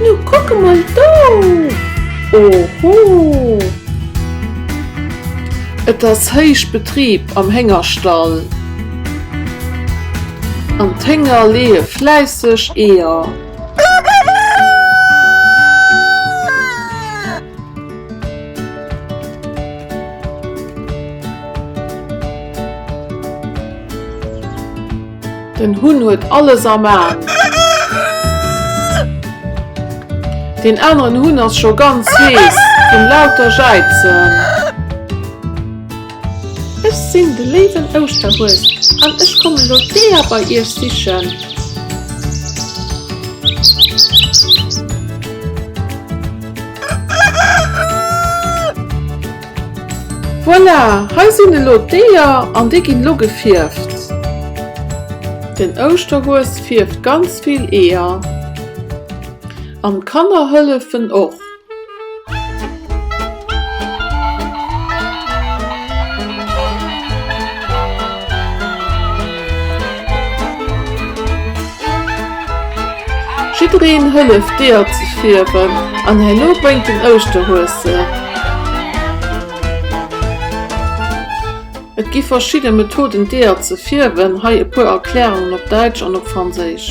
Nu kuck emol do! Oho! Et ass héich Betrib am Héngerstall an d'Hénger leeë fläisseg Eeër. Den Hunn huet alles am Aen. Deen aneren Hunn ass scho ganz hees vun lauter Jäizen. Ech sinn de léiwen Ouschterhues an ech kommen elo d'Eeër bei iech sichen. Voilà, hei sinn elo d'Eeër an déi ginn elo gefierft. Den Ouschterhues fierft ganz vill Eeër an d'Kanner hëllefen och. Jiddereen hëlleft d'Eeër ze fierwen an herno bréngt den Ouschterhues se. Et gi verschidde Methoden d'Eeër ze fierwen, hei e puer Erklärungen op Däitsch an op Franséisch.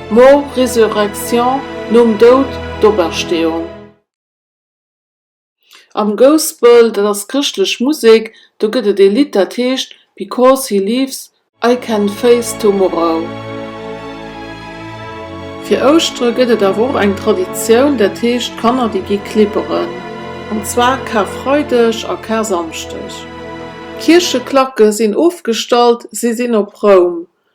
Mort, Résurrection, Nom Doud, d'Opersteeung. Am Gospel, dat ass chrëschtlech Musek, do gëtt et ee Lidd dat heescht Because He Lives, I Can Face Tomorrow. Fir Ouschtere gëtt et awer och eng Traditioun, dat heescht d'Kanner déi gi klibberen. An zwar Karfreideg a Karsamschdeg. D'Kiercheklacke sinn ofgestallt, si sinn op Roum.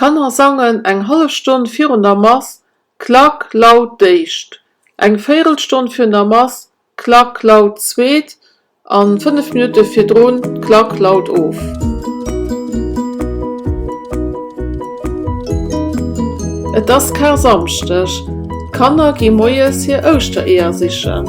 D'Kanner sangen eng hallef Stonn virun der Mass Klack laut d'éischt, eng Véirelstonn virun der Mass Klack laut d'zweet a fënnef Minutte virdrun Klack laut of. Et ass Karsamschdeg, d'Kanner gi moies hir Ouschtereeër sichen.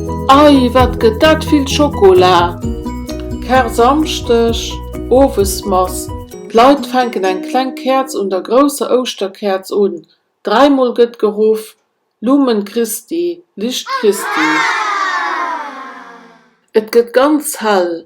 Ei wat gëtt dat vill Schokola! Kar-Samschdeg, Owesmass, D'Leit fänken eng kleng Käerz un der grousser Ouschterkäerz un. Dräimol gëtt geruff, Lumen Christi, Licht Christi. Et gëtt ganz hell,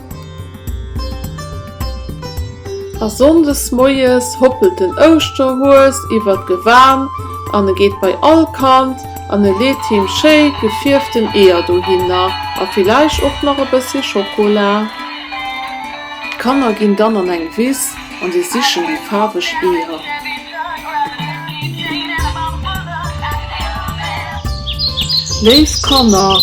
A sonndes moies hoppelt den Ouschterhues iwwer d'Gewan an e geet bei all Kand an e leet him schéi gefierften Eeër dohinner a villäicht och nach e bëssi Schokola. D'Kanner ginn dann an eng Wiss. An si sichen déi faarweg Eeër. Léif Kanner,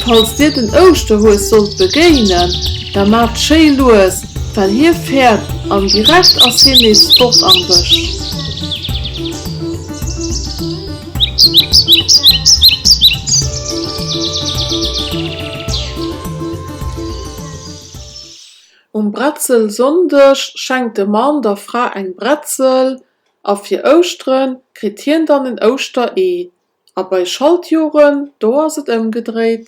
falls dir den Ouschterhues sollt begéinen, da maacht schéi lues, well hie fäert an direkt ass hien nees fort am Bësch. Um Bretzelsonndeg schenkt de Mann der Fra eng Bretzel a fir Ouschteren kritt hien dann en Ouschteree. A bei Schaltjoren, do ass et ëmgedréit.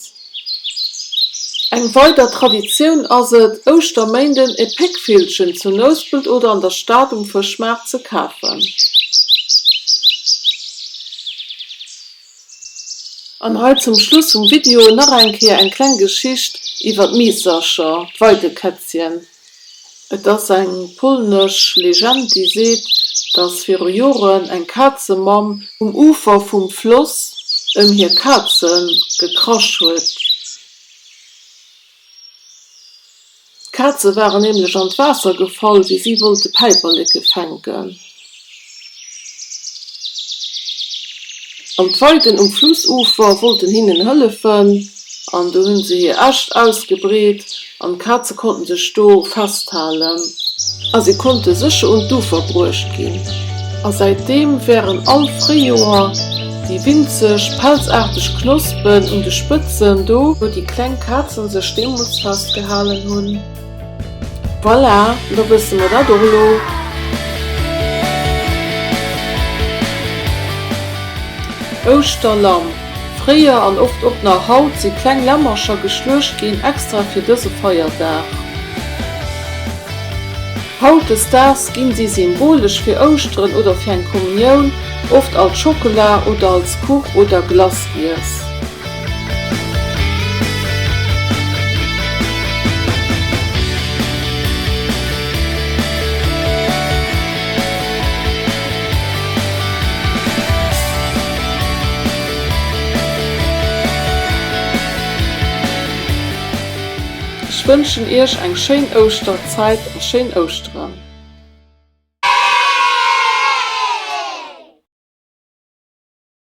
Eng weider Traditioun ass et, Ouschterméinden e Péckvillchen zu Nouspelt oder an der Stad um Fëschmaart ze kafen. An hei zum Schluss vum Video nach eng Kéier eng kleng Geschicht iwwer d'Miissercher, d'Weidekätzchen. Et ass eng polnesch Legend, déi seet, dass viru Joren eng Kazemamm um Ufer vum Floss ëm hir Kaze gekrasch huet. D'Kaze waren nämlech an d'Waasser gefall, wéi si wollte Päiperleke fänken. An d'Weiden um Flussufer wollten hinnen hëllefen. An do hunn se hir Äscht ausgebreet an d'Kaze konnten sech do festhalen. A si konnte sécher un d'Ufer bruecht ginn. A säitdeem wären all Fréijoer. Déi winzeg, pelzaarteg Knospen un de Spëtzen, do wou déi kleng Kazen sech deemools festgehalen hunn. Voilà, da wësse mer dat och elo. Ouschterlamm, Fréier an oft och nach haut si kleng Lämmercher geschluecht ginn, extra fir dëse Feierdag. Hautdesdaags ginn si symbolesch fir Ouschteren oder fir eng Kommunioun oft als Schockela oder als Kuch oder Glace giess. Ech wënschen Iech eng schéin Ouschter. Zäit a schéin Ouschteren!